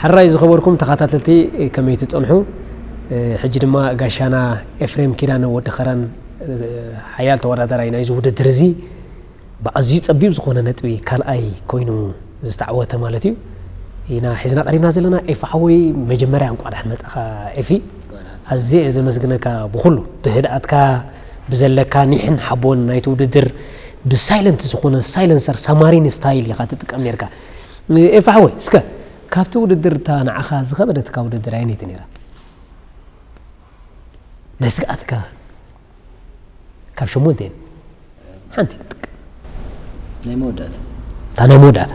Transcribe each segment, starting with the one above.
ሕራይ ዝኸበርኩም ተኸታተልቲ ከመይ ትፀንሑ ሕጂ ድማ ጋሻና ኤፍሬም ኪዳነ ወዲ ከረን ሓያል ተወዳዳራይ ናይዚ ውድድር እዚ ብኣዝዩ ጸቢብ ዝኾነ ነጥቢ ካልኣይ ኮይኑ ዝተዓወተ ማለት እዩ ኢና ሒዝና ቀሪብና ዘለና ኤፊ ሓወይ መጀመርያ እንቋዕ ደሓን መጻኻ ኤፊ ኣዝየ ዘመስግነካ ብኹሉ ብህድኣትካ ብዘለካ ኒሕን ሓቦን ናይቲ ውድድር ብሳይለንት ዝኾነ ሳይለንሰር ሳማሪን ስታይል ኢኻ ትጥቀም ነርካ ኤፊ ሓወይ እስከ ካብቲ ውድድር እታ ንዓኻ ዝኸበደትካ ውድድር ኣየነይቲ ነይራ ናይ ስግኣትካ ካብ ሸሞንተ እየን ሓንቲ ናይ መወዳእታ እታ ናይ መወዳእታ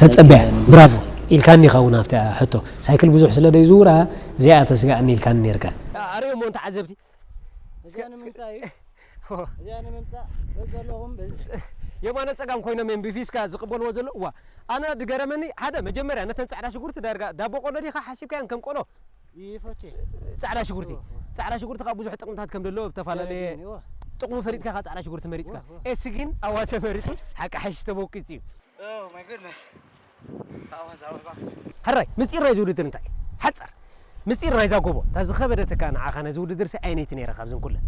ተጸበያ ብራቮ ኢልካኒ ኸውን ኣብቲ ሕቶ ሳይክል ብዙሕ ስለ ዘይዝውራ እዚኣ ተስጋእኒ ኢልካኒ ነርካ ኣርእዮ እሞ ተዓዘብቲ የማነ ጸጋም ኮይኖም እዮም ብፊስካ ዝቕበልዎ ዘሎ ዋ ኣነ ድገረመኒ ሓደ መጀመርያ ነተን ጻዕዳ ሽጉርቲ ዳርጋ ዳቦ ቆሎ ዲኻ ሓሲብካያን ከም ቆሎ ይፈቴ ጻዕዳ ሽጉርቲ ጻዕዳ ሽጉርቲ ካብ ብዙሕ ጥቅምታት ከም ደሎ ተፈላለየ ጥቅሙ ፈሊጥካ ካብ ጻዕዳ ሽጉርቲ መሪጽካ ኤስ ግን ኣዋሰ መሪጹ ሓቂ ሓሽ ተበቂጽ እዩ ሕራይ ምስጢር ናይዚ ውድድር እንታይ ሓጻር ምስጢር ናይዛ ጎቦ እታ ዝኸበደትካ ንዓኻ ነዚ ውድድር ሲ ኣይነይቲ ነይረ ካብዘን ኩለን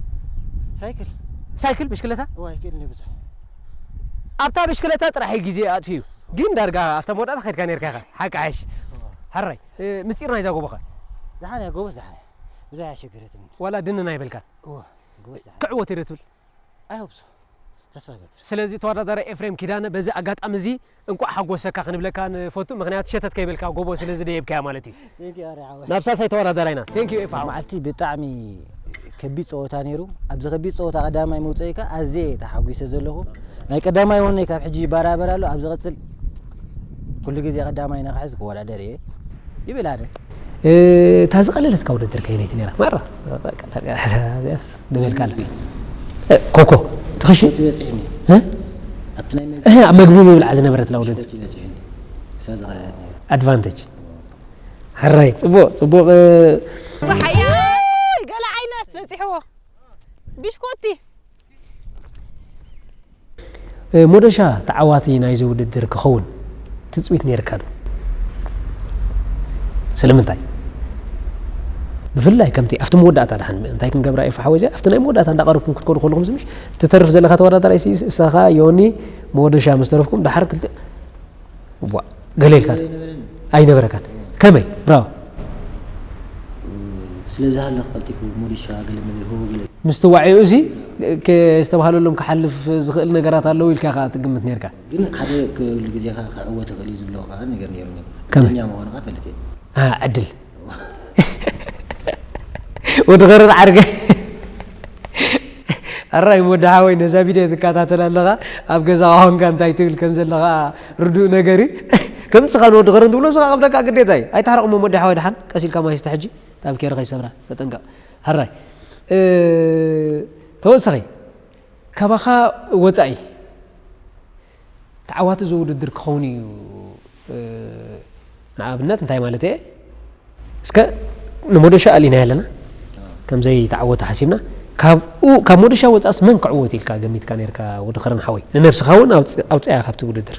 ሳይክል ሳይክል ብሽክለታ ዋይ ክእልኒ ብዙሕ ኣብታ ብሽክለታ ጥራሕ ግዜ ኣጥፊዩ ግን ዳርጋ ኣብታ መወዳእታ ከድካ ነርካ ኢኻ ሓቂ ሓሽ ሕራይ ምስጢር ናይዛ ጎቦኸ? ደሓን እያ ጎቦስ ደሓን እያ ብዙሕ ኣያሸገረትንን። ዋላ ድንን ኣይበልካን? እወ ጎቦስ ደሓን እያ። ክዕወት እየ ዶ ትብል? ኣይ ሆፕ ሶ ተስፋ እገብር። ስለዚ ተወዳዳራይ ኤፍሬም ኪዳነ በዚ ኣጋጣሚ እዚ እንቋዕ ሓጎሰካ ክንብለካ ንፈቱ ምኽንያቱ ሸተት ከይበልካ ጎቦ ስለ ዝደየብካያ ማለት እዩ። ቴንኪው ኣሬ ሓወይ። ናብ ሳልሳይ ተወዳዳራይና። ቴንኪው ኤፋ ሓወይ። መዓልቲ ብጣዕሚ ከቢድ ጸወታ ነይሩ። ኣብዚ ከቢድ ጸወታ ቀዳማይ መውጽኢ ከ ኣዝየ እየ ተሓጒሰ ዘለኹ። ናይ ቀዳማይ ወነይ ካብ ሕጂ ይበራበር ኣሎ። ኣብ ዝቕጽል ኩሉ ግዜ ቀዳማይ ንክሕዝ ክወዳደር እየ ይብል ኣነ። እታ ዝቐለለትካ ውድድር ከየነይቲ ነይራ? ማራ ንበልካ ኣለካ ኮኮ ትኽሽ ኣብ መግቢ ምብልዓ ዝነበረትና ውድድር ኣድቫንቴጅ ሕራይ ጽቡቕ ጽቡቕ ጉሓያይ ገለ ዓይነት በጺሕዎ ቢሽኮቲ ሞዶሻ ተዓዋቲ ናይዚ ውድድር ክኸውን ትጽቢት ነይርካ ዶ ስለምንታይ ብፍላይ ከምቲ ኣብቲ መወዳእታ ድሓን እንታይ ክንገብራ እዩ ፈሓወ እዚኣ ኣብቲ ናይ መወዳእታ እንዳቀረብኩም ክትኮኑ ከለኹም ዝምሽ ትተርፍ ዘለካ ተወዳዳራይ እሳኻ ዮኒ መወደሻ ምስ ተረፍኩም ድሓር ክልተ ዋእ ገለ ኢልካ ዶ ኣይነበረካን ከመይ ብራቮ ስለ ዝሃለኽ ቀልጢፉ ሞዲሻ ገለ መለ ሆ ገለ ምስትዋዕኡ እዚ ዝተባህለሎም ክሓልፍ ዝኽእል ነገራት ኣለዉ ኢልካ ከኣ ትግምት ነርካ ግን ሓደ ክሉ ግዜ ከኣ ክዕወት ይኽእል እዩ ዝብሎ ከኣ ነገር ነይሩኒ ከመይ? ዕድለኛ ምዃንኻ እፈልጥ እየ ኣ ዕድል ወድኸረን ዓርገ ኣራይ ወዲ ሓወይ ነዛ ቪድዮ ትከታተል ኣለኻ ኣብ ገዛ ኳንካ እንታይ ትብል ከም ዘለኻ ርዱእ ነገር እዩ ከም ንስኻ ንወዲ ኸረን ትብሎ ስኻ ከም ደቃ ግዴታ እዩ ኣይተሓረቕሞ ወዲ ሓወይ ድሓን ቀስ ኢልካ ማይ ስተ ሕጂ ጣብ ኬረ ከይሰብራ ተጠንቀቕ ሃራይ ተወሳኺ ካባኻ ወፃኢ ተዓዋቲ እዚ ውድድር ክኸውን እዩ ንኣብነት እንታይ ማለት እየ እስከ ንሞደሻ ኣሊናዮ ኣለና ከምዘይ ተዓወተ ሓሲብና ካብኡ ካብ ሞደሻ ወፃእስ መን ክዕወት ኢልካ ገሚትካ ነርካ ወዲ ከረን ሓወይ ንነብስኻ እውን ኣውፅኣያ ካብቲ ውድድር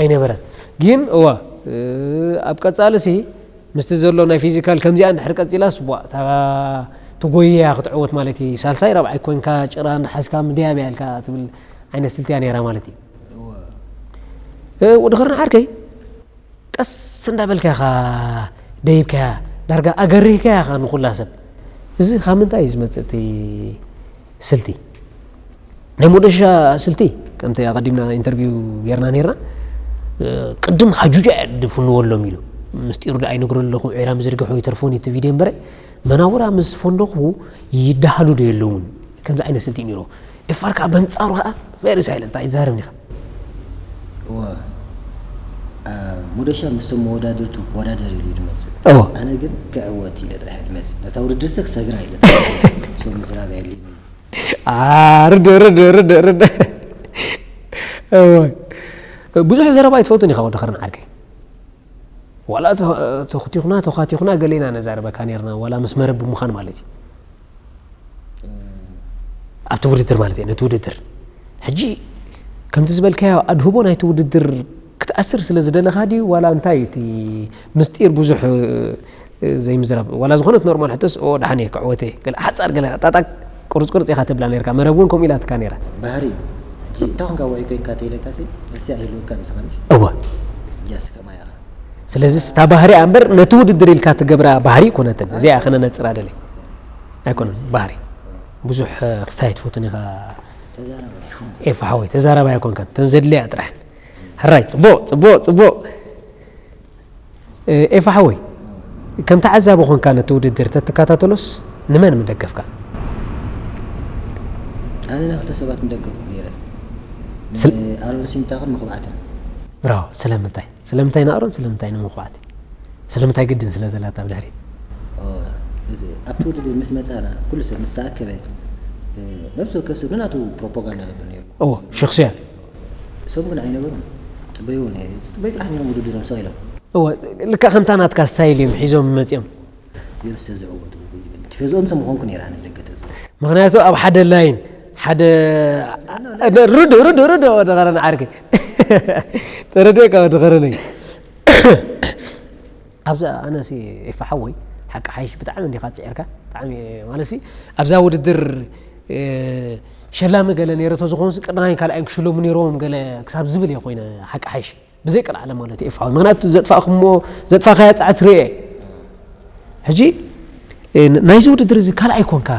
ኣይነበረን ግን እዋ ኣብ ቀጻሊ ሲ ምስቲ ዘሎ ናይ ፊዚካል ከምዚኣ እንድሕር ቀጺላስ ቧእ እታ ትጎይይ እያ ክትዕወት ማለት እዩ ሳልሳይ ራብዓይ ኮንካ ጭራ እናሓዝካ ምድያብ እያ ኢልካ ትብል ዓይነት ስልቲ እያ ነይራ ማለት እዩ ወድኸርና ዓርከይ ቀስ እንዳበልካ ኢኻ ደይብካያ ዳርጋ ኣገሪህካያ ኢኻ ንኹላ ሰብ እዚ ካብ ምንታይ እዩ ዝመፅእ እቲ ስልቲ ናይ ሞደሻ ስልቲ ከምቲ ኣቐዲምና ኢንተርቪው ጌርና ነርና ቅድም ሃጁጃ እያ ድፍንወሎም ኢሉ ምስጢሩ ዶ ኣይነግሮ ኣለኹ ዒራ ምዝርግሑ ይተርፎን እቲ ቪድዮ እምበረ መናውራ ምስ ፈንደኹ ይደሃሉ ዶ የለውን ከምዚ ዓይነት ስልቲ እዩ ነይሩ ኤፋር ከዓ በንጻሩ ከዓ ቨሪ ሳይለንት ኣይዛረብን ኢኻ እወ ሞደሻ ምስቶም መወዳድርቱ ወዳደር ኢሉ ድመፅእ ኣነ ግን ክዕወት ኢለ ጥራሕ ድመፅእ ነታ ውድድር ሰ ክሰግራ ኢለ ሰው ምዝራብ ኣየድልየንን ርደ ርደ ርደ ርደ ብዙሕ ዘረባ ኣይትፈትን ኢኻ ወዲ ኸርን ዓርከይ ዋላ ተኽቲኹና ተዃቲኹና ገሌና ነዛረበካ ነርና ዋላ ምስ መረብ ብምዃን ማለት እዩ ኣብቲ ውድድር ማለት እዩ ነቲ ውድድር ሕጂ ከምቲ ዝበልካዮ ኣድህቦ ናይቲ ውድድር ክትኣስር ስለ ዝደለኻ ድዩ ዋላ እንታይ እቲ ምስጢር ብዙሕ ዘይምዝራብ ዋላ ዝኾነት ኖርማል ሕቶስ ኦ ደሓን እየ ክዕወት እየ ገለ ሓጻር ገለ ጣጣቅ ቁርጽ ቁርጽ ኢኻ ተብላ ኔርካ መረብ ውን ከምኡ ኢላትካ ኔራ። ባህሪ እዩ ሕጂ እንታይ ኮንካ ዋዒ ኮንካ ተይለካሲ መልሲ ኣይህልወካን ንስኻ ምሽ እወ ሕጂ ኣስከማይ ኣኻ ስለዚስ እታ ባህሪ እያ እምበር ነቲ ውድድር ኢልካ ትገብራ ባህሪ ኣይኮነትን እዚኣ እያ ከነነጽራ ደልየ ኣይኮነን ባህሪ ብዙሕ ክስታይ ኣይትፈቱን ኢኻ ተዛራባይ ይኹን ኤፋ ሓወይ ተዛራባይ ኣይኮንካን እተን ዘድልያ ጥራሕ ሕራይ ጽቡቕ ጽቡቕ ጽቡቕ ኤፋ ሓወይ ከም ተዓዛቢ ኮንካ ነቲ ውድድር ተትከታተሎስ ንመን ምደገፍካ? ኣነ ንክልተ ሰባት ምደገፍኩ ነይረ ንኣሮን ሲንታቅን ምኩባዕትን። ብራቮ ስለምንታይ ስለምንታይ ንኣሮን ስለምንታይ ንምኩባዕቲ ስለምንታይ ግድን ስለ ዘላት ኣብ ድሕሪት። ኣብቲ ውድድር ምስ መጻና ኩሉ ሰብ ምስ ተኣከበ ነብሲ ወከፍ ሰብ ንናቱ ፕሮፖጋንዳ ገብር ነይሩ። እዎ ሽክስያ እሶም ግን ኣይነበሩን ጽበይዎ ነይሩ ዝጽበዩ ጥራሕ ነይሮም ውድድሮም ስቅ ኢሎም። እወ ልክዕ ከምታ ናትካ ስታይል እዮም ሒዞም መጽዮም። እዮም ስለ ዝዕወቱ ይብል ቲፈዝኦም ስለ ምኮንኩ ነይረ ኣነ ብደገ ተዝኮ። ምክንያቱ ኣብ ሓደ ላይን ሓደ ርዱእ ርዱእ ርዱእ ወዲ ከረን ዓርኪ ተረዲእካ ወዲ ከረነይ። ኣብዚ ኣነሲ ኤፋ ሓወይ ሓቂ ሓይሽ ብጣዕሚ እንዲኻ ጽዒርካ ብጣዕሚ ማለትሲ ኣብዛ ውድድር ሸላሚ ገለ ነይረ ተዝኾንሲ ቀዳማይን ካልኣይን ክሽለሙ ነይሮም ገለ ክሳብ ዝብል እየ ኮይነ ሓቂ ሓይሽ ብዘይ ቀልዓለ ማለት እዩ ኤፋዊ ምክንያቱ ዘጥፋእኩሞ ዘጥፋእካያ ጻዕት ርኤ ሕጂ ናይዚ ውድድር እዚ ካልኣይ ኮንካ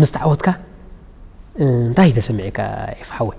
ምስ ተዓወትካ እንታይ ተሰሚዕካ ኤፋ ሓወይ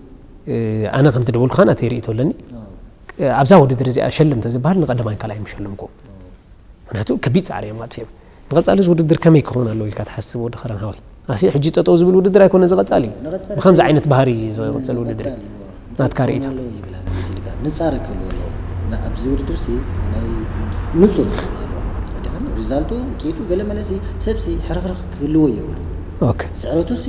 ኣነ ከምቲ ደወልኩኻ ናተይ ርእይቶ ኣለኒ ኣብዛ ውድድር እዚኣ ሸልም እንተዝበሃል ንቀዳማይን ካልኣይን ምሸለምኩ ምክንያቱ ከቢድ ፃዕሪ እዮም ኣጥፊኦም ንቐፃሊ እዚ ውድድር ከመይ ክኸውን ኣለዎ ኢልካ ትሓስብ ወዲ ከረን ሃወይ ኣሲ ሕጂ ጠጠው ዝብል ውድድር ኣይኮነ ዝቐፃሊ እዩ ብከምዚ ዓይነት ባህሪ ዝቕፅል ውድድር ናትካ ርእይቶ ንፃረ ክህልዎ ኣለዎ ኣብዚ ውድድር ሲ ናይ ንፁር ሪዛልቱ ውፅኢቱ ገለ መለሲ ሰብሲ ሕርኽርኽ ክህልዎ የብሉ ኦኬ። ስዕረቱሲ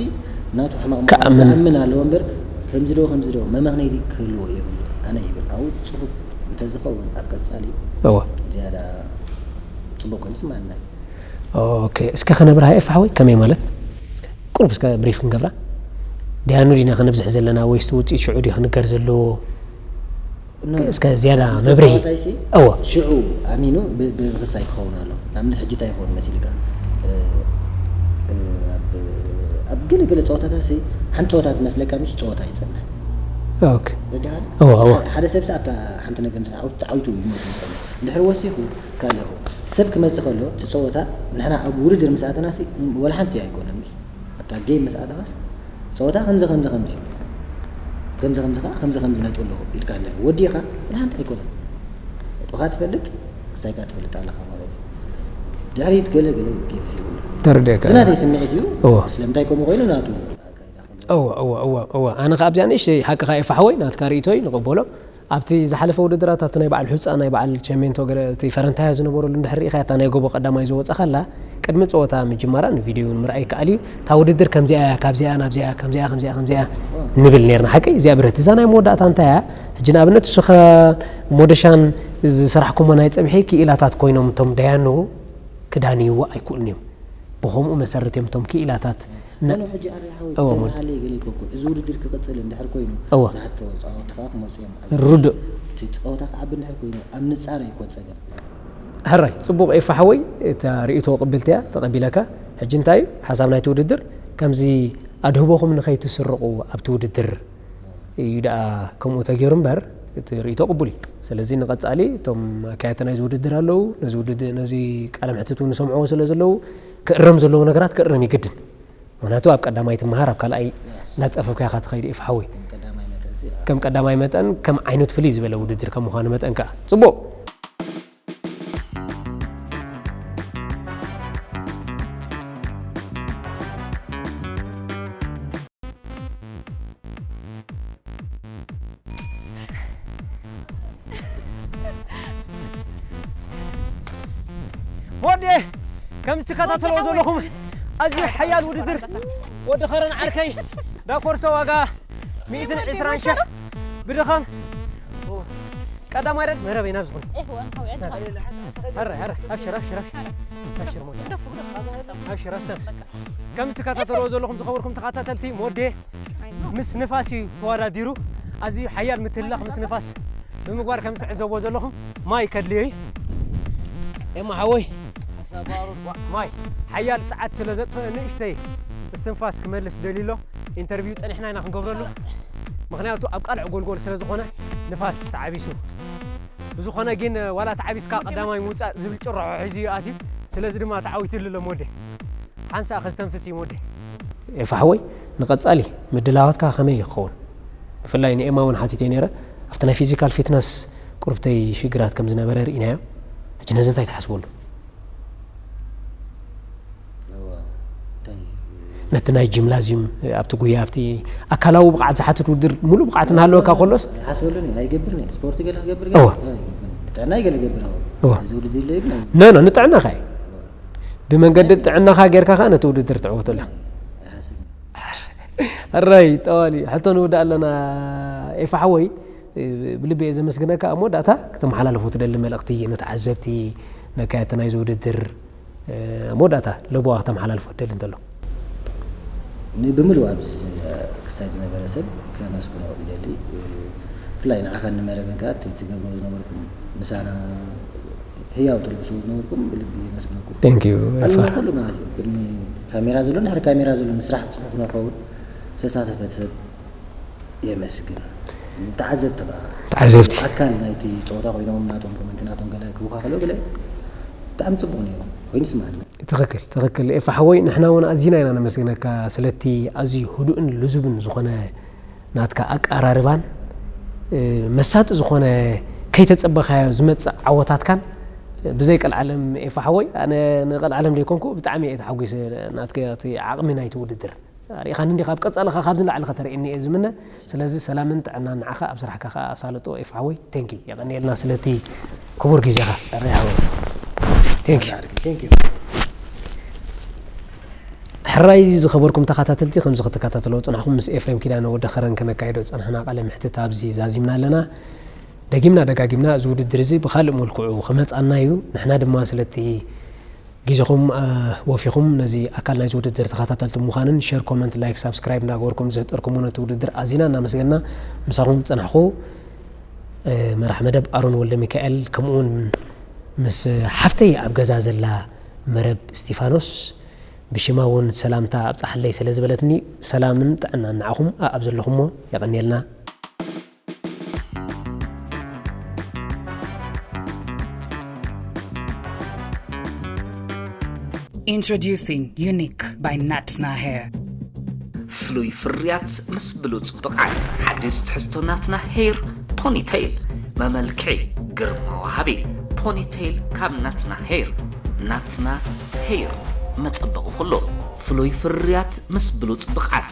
ናቱ ሕማቕ ምዃኑ ክኣምን ኣለዎ እምበር ከምዚ ዶ ከምዚ ዶ መመኽነይቲ ክህልዎ የብሉን ኣነ ይብል ኣብኡ ጽፉፍ እንተዝኸውን ኣብ ቀጻሊ እወ። ዝያዳ ጽቡቕ ኮይኑ ይስምዓና እዩ። ኦኬ እስከ ከነብርሃ ኤፋ ሓወይ ከመይ ማለት እስከ ቁሩብ እስከ ብሪፍ ክንገብራ ደያኑ ዲና ከነብዝሕ ዘለና ወይስ እቲ ውጽኢት ሽዑ ድዩ ክንገር ዘለዎ እስከ ዝያዳ መብርሂ ተዋታይሲ እወ ሽዑ ኣሚኑ ብ ብክሳይ ክኸውን ኣለዎ ንኣብነት ሕጂ እንታይ ይኸውን መሲልካ ኣብ ኣብ ገለ ገለ ጸወታታትሲ ሓንቲ ጸወታ ትመስለካ ምሽ ጸወታ ይጸንሕ ኦክ ረዲኻኒ እወ እወ ሓደ ሓደ ሰብሲ ኣብታ ሓንቲ ነገር እንተ ተዓዊቱ ተዓዊቱ እዩ ሞይቱ ዝጸንሕ እንድሕሪ ወሲኹ ካልእ ይኸውን ሰብ ክመጽእ ከሎ እቲ ጸወታ ንሕና ኣብ ውድድር ምስ ኣተናሲ ወላ ሓንቲ ኣይኮነን ምሽ ኣታ ጌም ምስ ኣተኻስ ጸወታ ከምዚ ከምዚ ከምዚ ከምዚ ከምዚ ከኣ ከምዚ ከምዚ ነጥቢ ኣለዎ ኢልካኒ ነይሩ ወዲእኻ ወላ ሓንቲ ኣይኮነን ነጥብኻ ትፈልጥ ወሳይካ ትፈልጥ ኣለኻ ማለት እዩ ድሕሪት ገለ ገለ ጌፍ የብሉን ተረዲኣካ እዚ ናተይ ስምዒት እዩ እወ ስለምንታይ ከምኡ ኮይኑ ናቱ ኣካይዳ ከምኡ እወ እወ እወ እወ ኣነ ከኣ ኣብዚኣ ንእሽተይ ሓቅኻ እየ ፋሕወይ ናትካ ርእይቶ እዩ ንቕበሎ ኣብቲ ዝሓለፈ ውድድራት ኣብቲ ናይ በዓል ሑጻ ናይ በዓል ቸሜንቶ ገለ እቲ ፈረንታያ ዝነበረሉ እንድሕር ርኢኻያ እታ ናይ ጎቦ ቀዳማይ ዝወጻኻላ ቅድሚ ጸወታ ምጅማራ ንቪድዩ ውን ምርኣይ ይከኣል እዩ እታ ውድድር ከምዚኣ እያ ካብዚኣ ናብዚኣ ከምዚኣ ከምዚኣ ከምዚኣ ንብል ኔርና ሓቀይ እዚኣ ብርህቲ እዛ ናይ መወዳእታ እንታይ እያ ሕጂ ንኣብነት እሱኸ ሞደሻን ዝሰራሕኩሞ ናይ ጽብሒ ክኢላታት ኮይኖም እቶም ደያኑ ክዳንይዎ ኣይክእሉን እዮም ብኸምኡ መሰረት እዮም እቶም ክኢላታት እሞ ሕጂ ኣርያሓወይ ብተበሃለ ይገሌኩ እኮ እዚ ውድድር ክቅጽል እንድሕር ኮይኑ ብዙሓት ተወጻወቲ ከኣ ክመጹ እዮም ኣብዚ ሕጂ እቲ ጸወታ ክዓቢ እንድሕር ኮይኑ ኣብ ምጻር ኣዩ እኮ እቲ ጸገም። ሕራይ ጽቡቅ ኤፋ ሓወይ እታ ሪኢቶ ቅብልቲ እያ ተቀቢለካ ሕጂ እንታይ እዩ ሓሳብ ናይቲ ውድድር ከምዚ ኣድህቦኹም ንኸይትስርቁ ኣብቲ ውድድር እዩ ደኣ ከምኡ ተጌሩ እምበር እቲ ሪኢቶ ቅቡል እዩ ስለዚ ንቀጻሊ እቶም ኣካየድቲ ናይዚ ውድድር ኣለዉ ነዚ ውድድር ነዚ ቃለ መሕትት ውን ይሰምዕዎ ስለ ዘለዉ ክእረም ዘለዎ ነገራት ክእረም ይግድን ምክንያቱ ኣብ ቀዳማይ ትመሃር ኣብ ካልኣይ እናፀፈፍካ ኢኻ ትኸይድ ኢፍ ሓወይ ከም ቀዳማይ መጠን ከም ዓይነቱ ፍልይ ዝበለ ውድድር ከም ምዃኑ መጠን ከዓ ፅቡቅ ወዲ ከም ዝትከታተልዎ ዘለኹም ኣዝዩ ሓያል ውድድር ወዲ ኸረን ዓርከይ ዳኮርሶ ዋጋ ሚእትን ዕስራን ሽሕ ብድኻም ቀዳማይ ረድፍ መረበይ ናብ ዝኾነ ኧረ ኧረ ኣብሽር ኣብሽር ኣብሽር ሞዴ ኣብሽር ኣስተንፍስ ከም ዝትከታተልዎ ዘለኹም ዝኸበርኩም ተኸታተልቲ ሞዴ ምስ ንፋስ እዩ ተዋዳዲሩ ኣዝዩ ሓያል ምትልላኽ ምስ ንፋስ ብምግባር ከም ዝትዕዘቦ ዘለኹም ማይ ከድልዮ እዩ ኤማ ሓወይ ማይ ሓያል ጸዓት ስለ ዘጥፍእ ንእሽተይ እስትንፋስ ክመልስ ደልዩ ኣሎ ኢንተርቪው ጸኒሕና ኢና ክንገብረሉ ምክንያቱ ኣብ ቃልዕ ጎልጎል ስለ ዝኾነ ንፋስ ተዓቢሱ ብዝኾነ ግን ዋላ ተዓቢስካ ቀዳማይ ምውፃእ ዝብል ጭርሖ ሒዙ እዩ ኣትዩ ስለዚ ድማ ተዓዊትሉ ኣሎ ሞዴ ሓንሳእ ከስተንፍስ እዩ ሞዴ ኤፋ ሓወይ ንቀጻሊ ምድላዋትካ ከመይ እዩ ክኸውን ብፍላይ ንኤማ ውን ሓቲተዮ ኔረ ኣብቲ ናይ ፊዚካል ፊትነስ ቁርብተይ ሽግራት ከም ዝነበረ ርኢናዮ ሕጂ ነዚ እንታይ ትሓስበሉ ነቲ ናይ ጂምላዚዩም ኣብቲ ጉያ ኣብቲ ኣካላዊ ብቕዓት ዝሓትት ውድድር ሙሉእ ብቕዓት እናሃለወካ ከሎስ ሓስበሉን እዩ ኣይገብርን እየ ስፖርት ገለ ክገብር ጥዕናይ ገለ ገብር እዚ ውድድር ኢለይ ግን ኖ ኖ ንጥዕናኻ እዩ ብመንገዲ ጥዕናኻ ጌርካ ከ ነቲ ውድድር ትዕወተሉ ኣራይ ጠዋል እዩ ሕቶ ንውዳእ ኣለና ኤፋ ሓወይ ብልቢ እየ ዘመስግነካ ኣብ መወዳእታ ክተመሓላለፉ ትደሊ መልእኽቲ ንተዓዘብቲ ነካየቲ ናይዚ ውድድር ኣብ መወዳእታ ለቦዋ ክተመሓላልፎ ትደሊ እንተሎ ንብምሉኡ ኣብዚ ክሳይ ዝነበረ ሰብ ከመስግኖ ይደሊ ብፍላይ ንዓኻ ንመረብን ከኣ ትገብርዎ ዝነበርኩም ምሳና ህያው ተልብስዎ ዝነበርኩም ብልቢ የመስግነኩም Thank you ኣሎ ኤፋር ኩሉ ማለት እዩ ቅድሚ ካሜራ ዘሎን ድሕሪ ካሜራ ዘሎን ስራሕ ዝጽፉፍ ንክኸውን ዝተሳተፈ ሰብ የመስግን። ተዓዘብቲ ከኣ ተዓዘብቲ ኣካል ናይቲ ጸወታ ኮይኖም ናቶም ኮመንቲ ናቶም ገለ ክቡካ ከለው ገለ ብጣዕሚ ጽቡቅ ኔሩ ኮይኑ ይስምዓኒ። ትኽክል ትኽክል ኤፋ ሓወይ ንሕና ውን ኣዚና ኢና ነመስግነካ ስለቲ ኣዝዩ ህዱእን ልዙብን ዝኾነ ናትካ ኣቀራርባን መሳጢ ዝኾነ ከይተጸበኻዮ ዝመጽእ ዓወታትካን ብዘይ ቀልዓለም ኤፋ ሓወይ ኣነ ንቀልዓለም ደይኮንኩ ብጣዕሚ እየ ተሓጒሰ ናትካ እቲ ዓቕሚ ናይቲ ውድድር ኣርኢኻኒ እንዲኻ ኣብ ቀጻሊ ከኣ ካብዚ ንላዕሊ ከተርእየኒ እየ ዝምነ ስለዚ ሰላምን ጥዕናን ንዓኻ ኣብ ስራሕካ ከኣ ኣሳልጦ ኤፉ ሓወይ thank you የቐንየልና ስለቲ ክቡር ግዜኻ ኣሬ ሓወይ thank you thank you ሕራይ ዝኸበርኩም ተኸታተልቲ ከምዚ ክትከታተልዎ ጽናሕኩም ምስ ኤፍሬም ኪዳነ ወዲ ከረን ከነካይዶ ዝጸናሕና ቃለ መሕትት ኣብዚ ዛዚምና ኣለና ደጊምና ደጋጊምና እዚ ውድድር እዚ ብካልእ መልክዑ ክመጻና እዩ ንሕና ድማ ስለቲ ጊዘኹም ወፊኹም ነዚ ኣካል ናይዚ ውድድር ተኻታተልቲ ምዃንን ሸር ኮመንት ላይክ ሳብስክራይብ እንዳገበርኩም ዝህጠርኩሞ ነቲ ውድድር ኣዚና እናመስገና ምሳኹም ዝጸናሕኩ መራሕ መደብ ኣሮን ወልደሚካኤል ከምኡውን ምስ ሓፍተይ ኣብ ገዛ ዘላ መረብ እስቲፋኖስ ብሽማ እውን ሰላምታ ኣብጻሕለይ ስለዝበለትኒ ሰላምን ጥዕናን ንዓኹም ኣኣብ ዘለኹሞ የቐንየልና። Introducing Unique by Natna Hair. ፍሉይ ፍርያት ምስ ብሉፅ ብቕዓት ሓዲስ ትሕዝቶ ናትና ሄር ፖኒቴይል መመልክዒ ግርማ ወሃቢ ፖኒቴይል ካብ ናትና ሄር ናትና ሄር መፀበቒ ኩሉ ፍሉይ ፍርያት ምስ ብሉፅ ብቕዓት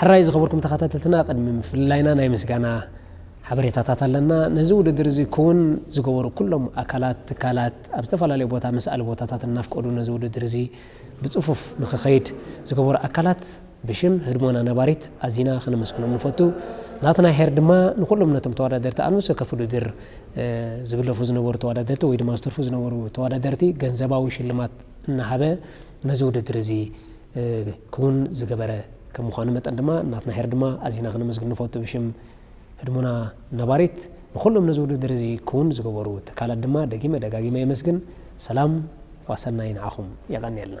ሕራይ ዝኸበርኩም ተኸታተልትና ቅድሚ ምፍልላይና ናይ ምስጋና ሓበሬታታት ኣለና። ነዚ ውድድር እዚ ክውን ዝገበሩ ኩሎም ኣካላት፣ ትካላት ኣብ ዝተፈላለዩ ቦታ መስኣሊ ቦታታት እናፍቀዱ ነዚ ውድድር እዚ ብጽፉፍ ንክኸይድ ዝገበሩ ኣካላት ብሽም ህድሞና ነባሪት ኣዚና ከነመስግኖም ንፈቱ። ናትና ሄር ድማ ንኹሎም ነቶም ተወዳደርቲ ኣብ ነፍሲ ወከፍ ውድድር ዝግለፉ ዝነበሩ ተወዳደርቲ ወይ ድማ ዝተርፉ ዝነበሩ ተወዳደርቲ ገንዘባዊ ሽልማት እናሃበ ነዚ ውድድር እዚ ክዉን ዝገበረ ከም ምዃኑ መጠን ድማ ናትና ሄር ድማ ኣዚና ክነመስግን ንፈቱ ብሽም ህድሞና ነባሪት ንኹሎም ነዚ ዉድድር እዚ ክዉን ዝገበሩ ትካላት ድማ ደጊመ ደጋጊመ የመስግን ሰላም ዋሰናይ ንዓኹም የቀንየልና።